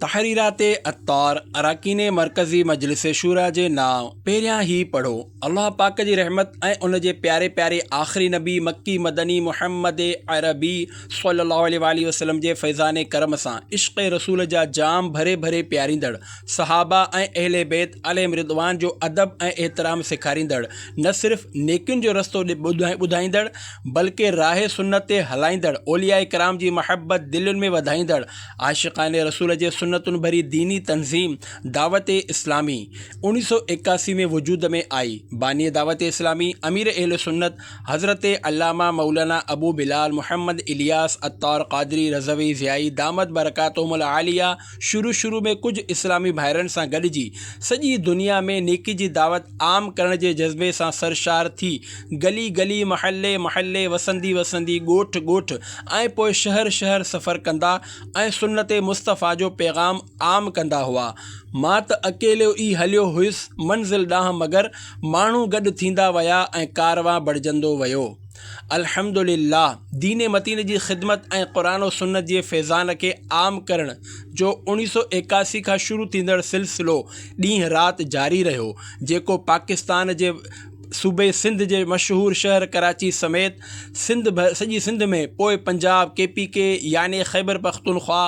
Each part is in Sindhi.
تحريرات عطار اراڪين مرڪزي مجلس شوريٰ جي نانء پهريان هي پڙهو الله پاڪ جي رحمت ۽ ان جي پياري پياري آخري نبي مڪي مدني محمد عربي صلي الله عليه واٰله وسلم جي فيضان ڪرم سان عشق رسول جا جام ڀري ڀري پياريندڙ صحابه ۽ اهل بيت عليهم رضوان جو ادب ۽ احترام سيکاريندڙ نه صرف نيڪين جو رستو ٻڌائيندڙ بلڪه راهه سنت تي هلائيندڙ، اولياء ڪرام جي محبت دلين ۾ وڌائيندڙ، عاشقان رسول جي سنتن ڀري ديني تنظيم دعوت اسلامي اوڻيهه سؤ ايڪاسي ۾ وجود ۾ آئي. باني دعوت اسلامي، امير اهل سنت، حضرت علامه مولانا ابو بلال محمد الياس عطار قادري رضوي ضيائي دامت برڪاتهم العاليه، شروع شروع ۾ ڪجهه اسلامي ڀائرن سان گڏجي سڄي دنيا ۾ نيڪي جي دعوت عام ڪرڻ جي جذبي سان سرشار ٿي گلي گلي محلي محلي وسندي وسندي ڳوٺ ڳوٺ ۽ پوء شهر شهر سفر ڪندا ۽ سنت مصطفيٰ جو پيغام عام ڪندا هئا مان ته اڪيلو ئي هليو هيس منزل ڏانهن مگر ماڻهو گڏ ٿيندا ويا ۽ ڪاروان بڙجندو ويو. الحمدلله دين متين جي خدمت ۽ قرآن و سنت جي فيضان کي عام ڪرڻ جو اوڻيھ سؤ ايڪاسي کان شروع ٿيندڙ سلسلو ڏينهن رات جاري رهيو جيڪو پاڪستان جي صوبي سنڌ جي مشهور شهر ڪراچي سميت سڄي سنڌ ۾ پوء پنجاب ڪي پي ڪي يعني خيبرپختونخوا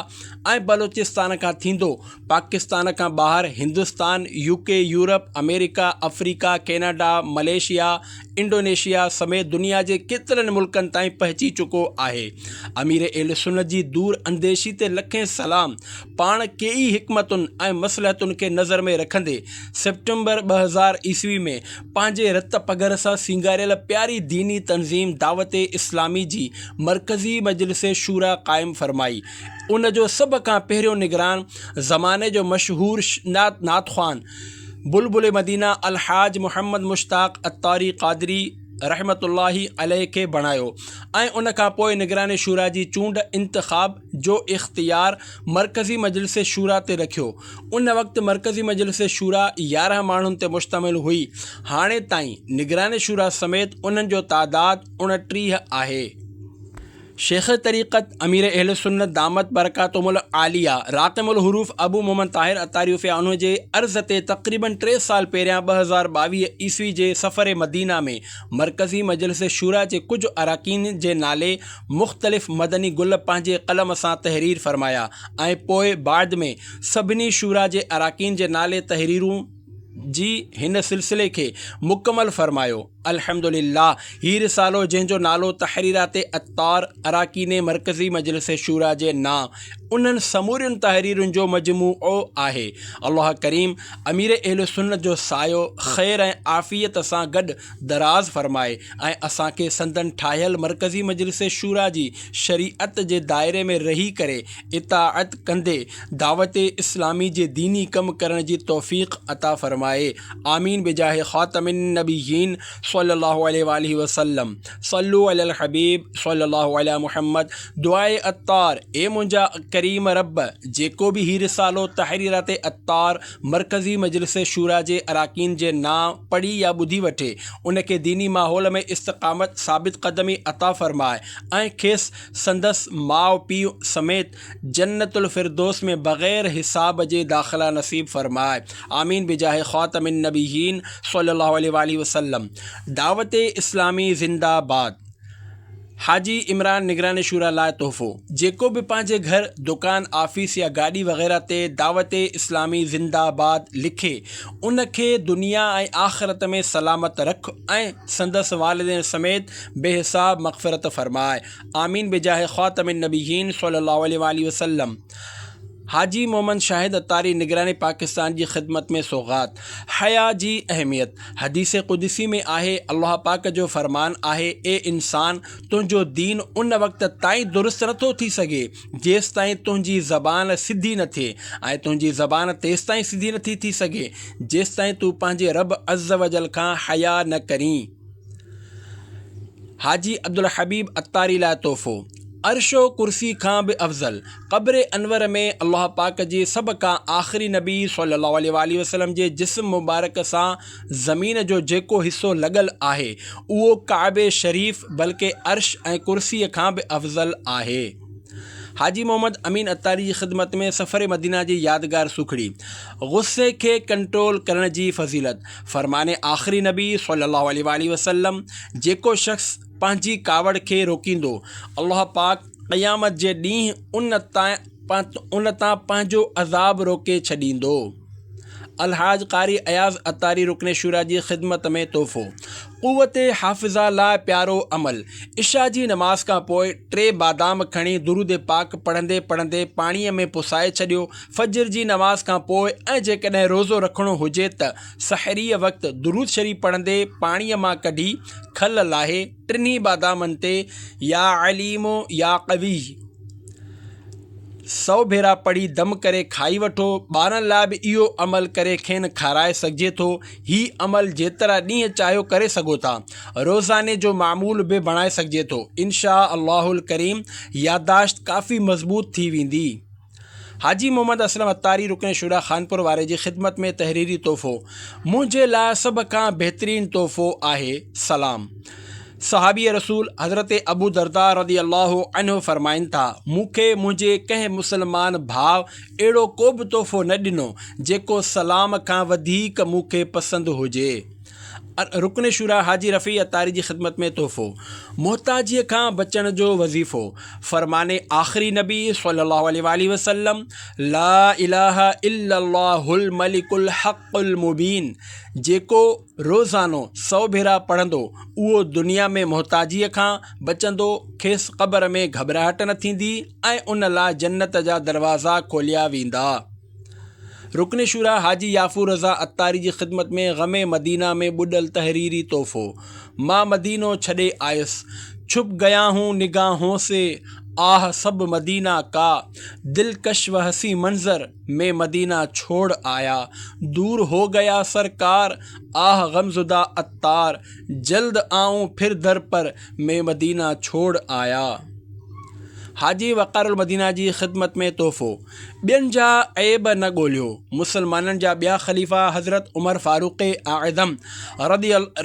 ۽ بلوچستان کان ٿيندو پاڪستان کان ٻاهر هندستان يو ڪي يورپ آمريڪا آفريڪا ڪيناڊا ملائيشيا انڊونيشيا سميت دنيا جي ڪيترن ملڪن تائين پهچي چڪو آهي. امير اهل سنت جي دور انديشي تي لکين سلام. پاڻ ڪيئي حڪمتن ۽ مصلحتن کي نظر ۾ رکندي سيپٽمبر ٻه هزار عيسوي ۾ پنهنجي رت پگهر سان سينگاريل پياري ديني تنظيم دعوت اسلامي جي مرڪزي مجلس شوريٰ قائم فرمائي ان جو سڀ کان پهريون نگران زماني جو مشهور نعت خوان بلبل مدينه الحاج محمد مشتاق عطاري قادري رحمة الله عليه کي بڻايو ۽ ان کان پوء نگران شوريٰ جي چونڊ، انتخاب، جو اختيار مرڪزي مجلس شوريٰ تي رکيو. ان وقت مرڪزي مجلس شوريٰ يارهن ماڻهن تي مشتمل هئي. هاڻي تائين نگران شوريٰ سميت انهن جو تعداد اڻٽيهه آهي. شيخ طريقت امير اهل سنت دامت برڪاتهم العاليه راقم الحروف ابو محمد طاهر عطاريوفيا عنه جي عرض تي تقريبن ٽي سال پهريان ٻه هزار ٻاويهه عيسوي جي سفر مدينه ۾ مرڪزي مجلس شوريٰ جي ڪجهه اراڪين جي نالي مختلف مدني گل پنهنجي قلم سان تحرير فرمايا ۽ پوء بعد ۾ سڀني شوريٰ جي اراڪين جي نالي تحريرون جي هن سلسلي کي مڪمل فرمايو. الحمد لله هي رسالو جنهن جو نالو تحريرات عطار اراڪيني مرڪزي مجلس شوريٰ جي نا انهن سمورين تحريرن جو مجموعو آهي الله ڪريم امير اهل سنت جو سايو خير ۽ عافيت سان گڏ دراز فرمائي ۽ اسان کي سندن ٺاهيل مرڪزي مجلس شوريٰ جي شريعت جي دائري ۾ رهي ڪري اطاعت ڪندي دعوت اسلامي جي ديني ڪم ڪرڻ جي توفيق عطا فرمائي آمين بجاھ خاتم النبيين صلي الله عليه واٰله وسلم صلو علي الحبيب صلي الله علي محمد دعاء عطار اي منهنجا ڪريم رب جيڪو به هي رسالو تحريرات عطار مرڪزي مجلس شوريٰ جي اراڪين جي نانء پڙهي يا ٻڌي وٺي ان کي ديني ماحول ۾ استقامت ثابت قدمي عطا فرماء ۽ کيس سندس ماء پيء سميت جنت الفردوس ۾ بغير حساب جي داخلا نصيب فرمائي آمين بجاھ خاتم النبيين صلي الله عليه واٰله وسلم دعوت اسلامي زنده باد حاجي عمران نگران شورا لاء تحفو جيڪو به پنهنجي گهر دڪان آفيس يا گاڏي وغيره تي دعوت اسلامي زنده باد لکي ان کي دنيا ۽ آخرت ۾ سلامت رک ۽ سندس والدين سميت بي حساب مغفرت فرماء آمين بجاھ خاتم النبيين صلي الله عليه واٰله وسلم حاجي محمد شاهد عطاري نگران پاڪستان جي خدمت ۾ سوغات حياء جي اهميت حديث قدسي ۾ آهي الله پاڪ جو فرمان آهي اي انسان تنهنجو دين ان وقت تائين درست نٿو ٿي سگهي جيستائين تنهنجي زبان سڌي نه ٿئي ۽ تنهنجي زبان تيستائين سڌي نٿي ٿي سگهي جيستائين تون پنهنجي رب عزّ وجلّ کان حياء نه ڪرين حاجي عبدالحبيب عطاري لاء تحفو، عرش و ڪرسي کان به افضل، قبر انور ۾ الله پاڪ جي سڀ کان آخري نبي صلّي اللّٰه عليه واٰله وسلّم جي جسم مبارڪ سان زمين جو جيڪو حصّو لڳل آهي اهو ڪعبي شريف بلڪه عرش ۽ ڪرسي کان به افضل آهي. حاجي محمد امين عطاري جي خدمت ۾ سفر مدينه جي يادگار سوکڙي، غصي کي ڪنٽرول ڪرڻ جي فضيلت، فرمان آخري نبي صلّي اللّٰه عليه واٰله وسلّم، جيڪو شخص پنهنجي ڪاوڙ کي روڪيندو، الله پاڪ قيامت جي ڏينهن ان تان پنهنجو عذاب روڪي ڇڏيندو. الحاج قاري اياز عطاري رڪن شوريٰ جي خدمت ۾ تحفو، قوت حافظه لاء پيارو عمل، عشاء جي نماز کان پوء ٽي بادام کڻي درود پاڪ پڙهندي پڙهندي پاڻيء ۾ پسائي ڇڏيو، فجر جي نماز کان پوء ۽ جيڪڏهن روزو رکڻو هجي ته سحريء وقت درود شريف پڙهندي پاڻيء مان ڪڍي کل لاهي ٽنهي بادامن تي يا عليم يا قوي سؤ ڀيرا پڙهي دم ڪري کائي وٺو. ٻارن لاء به اهو عمل ڪري کين کارائي سگهجي ٿو. هي عمل جيترا ڏينهن چاهيو ڪري سگهو ٿا. روزاني جو معمول به بڻائي سگهجي ٿو. ان شاء الله الڪريم يادداشت ڪافي مضبوط ٿي ويندي. حاجي محمد اسلم عطاري رڪن شورا خانپور واري جي خدمت ۾ تحريري تحفو منهنجي لاء سڀ کان بهترين تحفو آهي سلام صحابي رسول حضرت ابو دردا رضي الله عنه فرمائن ٿا مون کي منهنجي ڪنهن مسلمان ڀاء اهڙو ڪو به تحفو نه ڏنو جيڪو سلام کان وڌيڪ مون کي پسند هجي رڪن شوريٰ حاجي رفيع عطاري جي خدمت ۾ تحفو، محتاجيء کان بچڻ جو وظيفو، فرمان آخري نبي صلّي اللّٰه عليه واٰله وسلّم، لا اله الا الله الملڪ الحق المبين، جيڪو روزانو سؤ ڀيرا پڙهندو، اهو دنيا ۾ محتاجيء کان بچندو، کيس قبر ۾ گهٻراهٽ نه ٿيندي ۽ ان لاء جنت جا دروازا کوليا ويندا. رڪن شورا حاجي يافور رضا عطاري جي خدمت ۾ غم مدينه ۾ ٻڏل تحريري تحفو، مان مدينو ڇڏي آيس، ڇپ گيا هون نگاهون سي، آه سب مدينه ڪا، دلڪش و حسين منظر، مين مدينه ڇوڙ آيا، دور هو گيا سرڪار، آه غمزده عطار، جلد آئون پھر در پر، مين مدينه ڇوڙ آيا. حاجي وقار المدينه جي خدمت ۾ تحفو. ٻين جا عيب نه ڳوليو. مسلمانن جا ٻيا خليفا حضرت عمر فاروق اعظم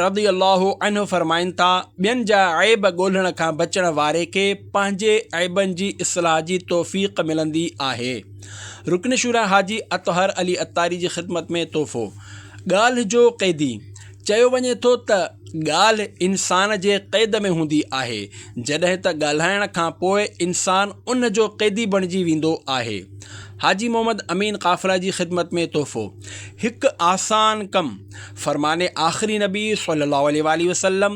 رضي الله عنه فرمائن ٿا، ٻين جا عيب ڳولڻ کان بچڻ واري کي پنهنجي عيبن جي اصلاح جي توفيق ملندي آهي. رڪن شوريٰ حاجي اطهر علي عطاري جي خدمت ۾ تحفو. ڳالهه جو قيدي، چيو وڃي ٿو ته ڳالهه انسان جي قيد ۾ هوندي آهي، جڏهن ته ڳالهائڻ کان پوء انسان ان جو قيدي بڻجي ويندو آهي. حاجي محمد امين قافله جي خدمت ۾ تحفو، هڪ آسان ڪم، فرمان آخري نبي صلي الله عليه واٰله وسلم،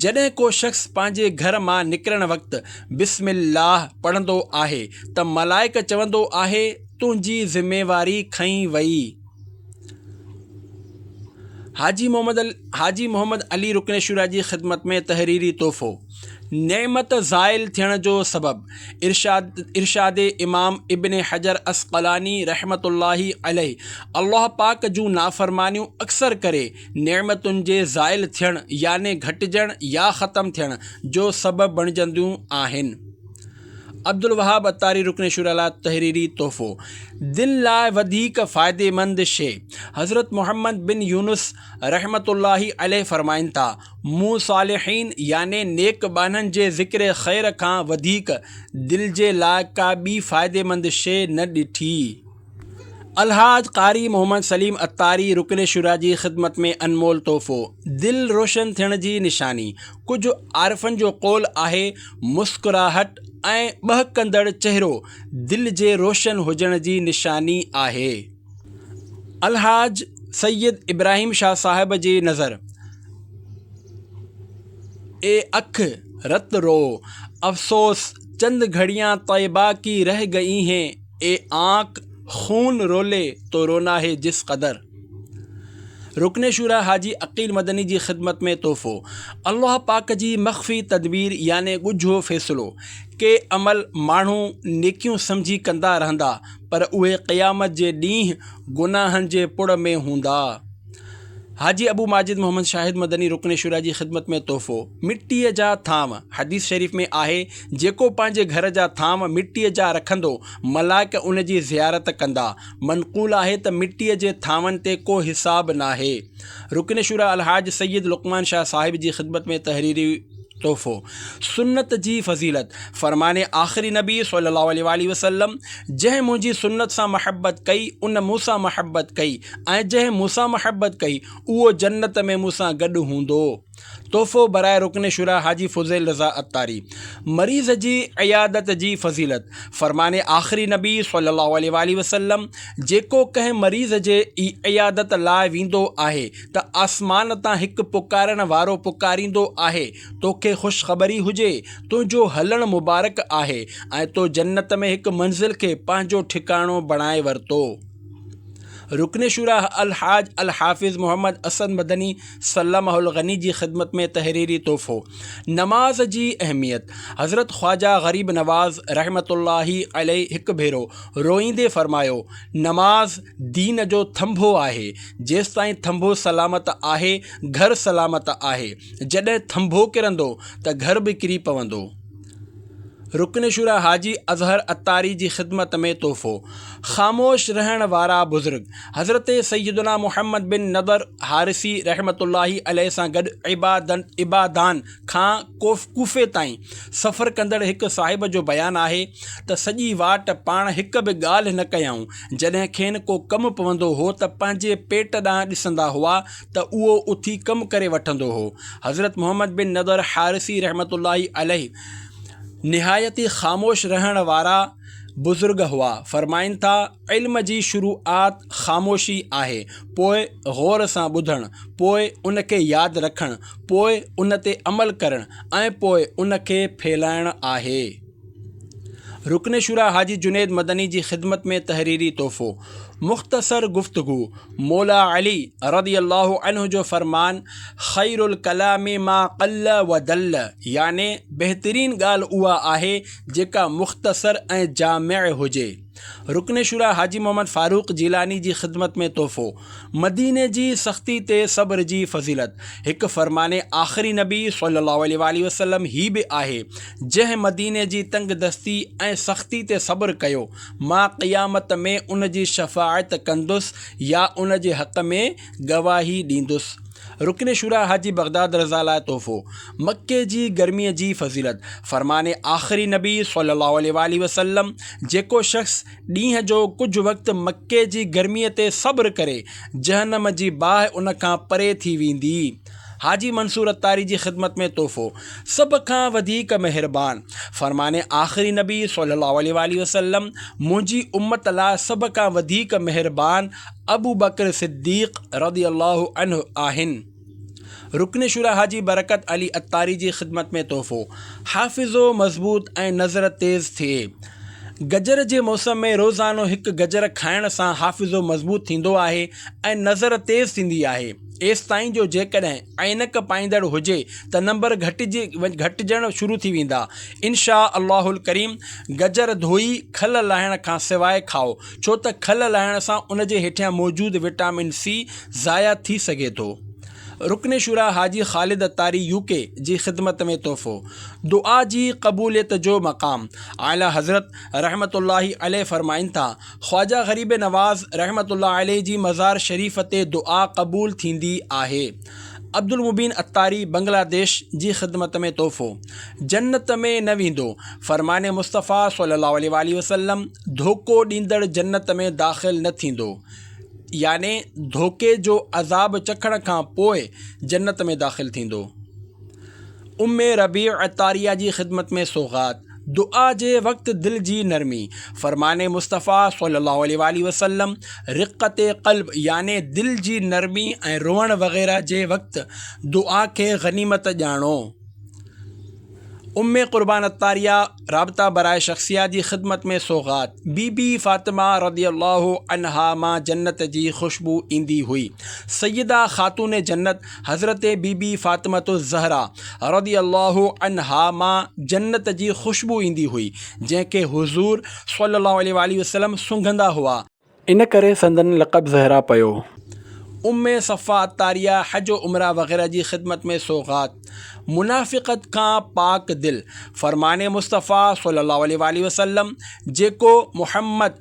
جڏهن ڪو شخص پنهنجي گهر مان نڪرڻ وقت بسم الله پڙهندو آهي ته ملائڪ چوندو آهي تنهنجي ذميواري کنئي وئي. حاجي محمد ال حاجي محمد علي رڪن شوريٰ جي خدمت ۾ تحريري تحفو نعمت زائل ٿيڻ جو سبب ارشاد ارشاد امام ابن حجر عسقلاني رحمة الله عليه الله پاڪ جون نافرمانيون اڪثر ڪري نعمتن جي زائل ٿيڻ يعني گهٽجڻ يا ختم ٿيڻ جو سبب بڻجنديون آهن عبدالوهاب عطاري رڪن شوريٰ لاء تحريري تحفو، دل لاء وڌيڪ فائديمند شيء، حضرت محمد بن يونس رحمة الله عليه فرمائن ٿا، مون صالحين يعني نيڪ ٻانهن جي ذڪر خير کان وڌيڪ دل جي لاء ڪا ٻي فائديمند شيء نه ڏٺي. الحاج قاري محمد سليم عطاري رڪن شوريٰ جي خدمت ۾ انمول تحفو، دل روشن ٿيڻ جي نشاني، ڪجهه عارفن جو قول آهي مسڪراهٽ ۽ ٻهڪندڙ چهرو دل جي روشن هجڻ جي نشاني آهي. الحاج سيد ابراهيم شاهه صاحب جي نظر اي اک رت رو افسوس چند گهڙيان طيبه ڪي رهه گئي هين. اي آنڪ خون رولي تو رونا هي جس قدر رڪن شورا حاجي عقيل مدني جي خدمت ۾ تحفو الله پاڪ جي مخفي تدبير يعني ڳجهو فيصلو ڪي عمل ماڻهو نيڪيون سمجهي ڪندا رهندا پر اهي قيامت جي ڏينهن گناهن جي پڙ ۾ هوندا حاجي ابو ماجد محمد شاهد مدني رڪن شوريٰ جي خدمت ۾ تحفو، مٽيء جا ٿانو، حديث شريف ۾ آهي، جيڪو پنهنجي گهر جا ٿانو مٽيء جا رکندو، ملائڪ ان جي زيارت ڪندا. منقول آهي ته مٽيء جي ٿانون تي ڪو حساب ناهي. رڪن شوريٰ الحاج سيد لقمان شاهه صاحب جي خدمت ۾ تحريري. تحفو، سنت جي فضيلت، فرمان آخر نبي صلّي اللّٰه عليه واٰله وسلّم، جنهن منهنجي سنت سان محبت ڪئي، ان مون سان محبت ڪئي ۽ جنهن مون سان محبت ڪئي، اهو جنت ۾ مون سان گڏ هوندو. تحفو برائي رڪن شوريٰ حاجي فضيل رضا عطاري، مريض جي عيادت جي فضيلت، فرمان آخر نبي صلّي اللّٰه عليه واٰله وسلّم، جيڪو ڪنهن مريض جي عيادت لاء ويندو آهي، ته آسمان تان هڪ پڪارڻ وارو پڪاريندو آهي، توکي خوشخبري هجي، تنهنجو هلڻ مبارڪ آهي ۽ تو جنت ۾ هڪ منزل کي پنهنجو ٺڪاڻو بڻائي ورتو. رڪن شوريٰ الحاج الحافظ محمد اسد مدني سلمه الغني جي خدمت ۾ تحريري تحفو، نماز جي اهميت، حضرت خواجه غريب نواز رحمة الله عليه هڪ ڀيرو روئيندي فرمايو، نماز دين جو ٿنڀو آهي، جيستائين ٿنڀو سلامت آهي، گهر سلامت آهي، جڏهن ٿنڀو ڪرندو ته گهر به ڪري پوندو. رڪن شوريٰ حاجي اظهر عطاري جي خدمت ۾ تحفو، خاموش رهڻ وارا بزرگ حضرت سيدنا محمد بن نضر حارثي رحمة الله عليه سان گڏ عبادان کان ڪوفي تائين سفر ڪندڙ هڪ صاحب جو بيان آهي ته سڄي واٽ پاڻ هڪ به ڳالهه نه ڪيائون، جڏهن کين ڪو ڪم پوندو هو ته پنهنجي پيٽ ڏانهن ڏسندا هئا ته اهو اٿي ڪم ڪري وٺندو هو. حضرت محمد بن نضر حارثي رحمة الله عليه نهايت ئي خاموش رهڻ وارا بزرگ هئا، فرمائن ٿا، علم جي شروعات خاموشي آهي، پوء غور سان ٻڌڻ، پوء ان کي ياد رکڻ، پوء ان تي عمل ڪرڻ ۽ پوء ان کي ڦهلائڻ آهي. رڪن شوريٰ حاجي جنيد مدني جي خدمت ۾ تحريري تحفو. مختصر گفتگو، مولا علي رضي الله عنه جو فرمان خير الڪلام ما قل ودل يعني بهترين ڳالهه اها آهي جيڪا مختصر ۽ جامع هجي. رڪن شورا حاجي محمد فاروق جيلاني جي خدمت ۾ تحفو، مديني جي سختي تي صبر جي فضيلت، هڪ فرمان آخري نبي صلّي اللّٰه عليه واٰله وسلّم هي به آهي، جنهن مديني جي تنگ دستي ۽ سختي تي صبر ڪيو، مان قيامت ۾ ان جي شفاعت ڪندس يا ان جي حق ۾ گواهي ڏيندس. رڪن شوريٰ حاجي بغداد رضه لاء تحفو، مڪي جي گرميء جي فضيلت، فرمان آخري نبي صلّي اللّٰه عليه واٰله وسلّم، جيڪو شخص ڏينهن جو ڪجهه وقت مڪي جي گرميء تي صبر ڪري، جهنّم جي باهه ان کان پري ٿي ويندي. حاجي منصور عطاري جي خدمت ۾ تحفو سڀ کان وڌيڪ مهربان فرمان آخري نبي صلي الله عليه واله وسلم منهنجي امت لاء سڀ کان وڌيڪ مهربان ابو بڪر صديق رضي الله عنه آهن رڪن شورا حاجي برڪت علي عطاري جي خدمت ۾ تحفو حافظو مضبوط ۽ نظر تيز ٿئي گجر جي موسم ۾ روزانو هڪ گجر کائڻ سان حافظو مضبوط ٿيندو آهي ۽ نظر تيز ٿيندي آهي ايستائين جو جيڪڏهن عينڪ پائيندڙ هجي ته نمبر گهٽجي گهٽجڻ شروع ٿي ويندا. انشاء الله الڪريم گجر ڌوئي کل لاهڻ کان سواء کائو ڇو ته کل لاهڻ سان ان جي هيٺيان موجود وٽامن سي ضايع ٿي سگهي ٿو. رڪن شورا حاجي خالد اتاري UK جي خدمت ۾ تحفو. دعا جي قبوليت جو مقام اعليٰ حضرت رحمة الله عليه فرمائن ٿا، خواجه غريب نواز رحمة الله عليه جي مزار شريف تي دعا قبول ٿيندي آهي. عبدالمبين عطاري بنگلاديش جي خدمت ۾ تحفو. جنت ۾ نه ويندو. فرمان مصطفيٰ صلي الله عليه واٰله وسلم ڌوڪو ڏيندڙ جنت ۾ داخل نه ٿيندو يعني ڌوڪي جو عذاب چکڻ کان پوء جنت ۾ داخل ٿيندو. ام ربيع عطاريه جي خدمت ۾ سوغات. دعا جي وقت دل جي نرمي، فرمان مصطفيٰ صلي الله عليه واٰله وسلم، رقّت قلب يعني دل جي نرمي ۽ روئڻ وغيره جي وقت دعا کي غنيمت ڄاڻو. ام قربان عطاريه، رابطه برائے شخصيه جي خدمت ۾ سوغات، بي بي فاطمه رضي الله عنها مان جنت جي خوشبو ايندي هئي، سيده خاتون جنت، حضرت بي بي فاطمة الزهرا رضي الله عنها مان جنت جي خوشبو ايندي هئي، جنهن کي حضور صلي الله عليه واٰله وسلم سونگهندا هئا. ان ڪري سندن لقب زهرا پيو. ام صفا عطاريه حج و عمره وغيره جي خدمت ۾ سوغات، منافقت کان پاڪ دل، فرمان مصطفيٰ صلي الله عليه واٰله وسلم، جيڪو محمد،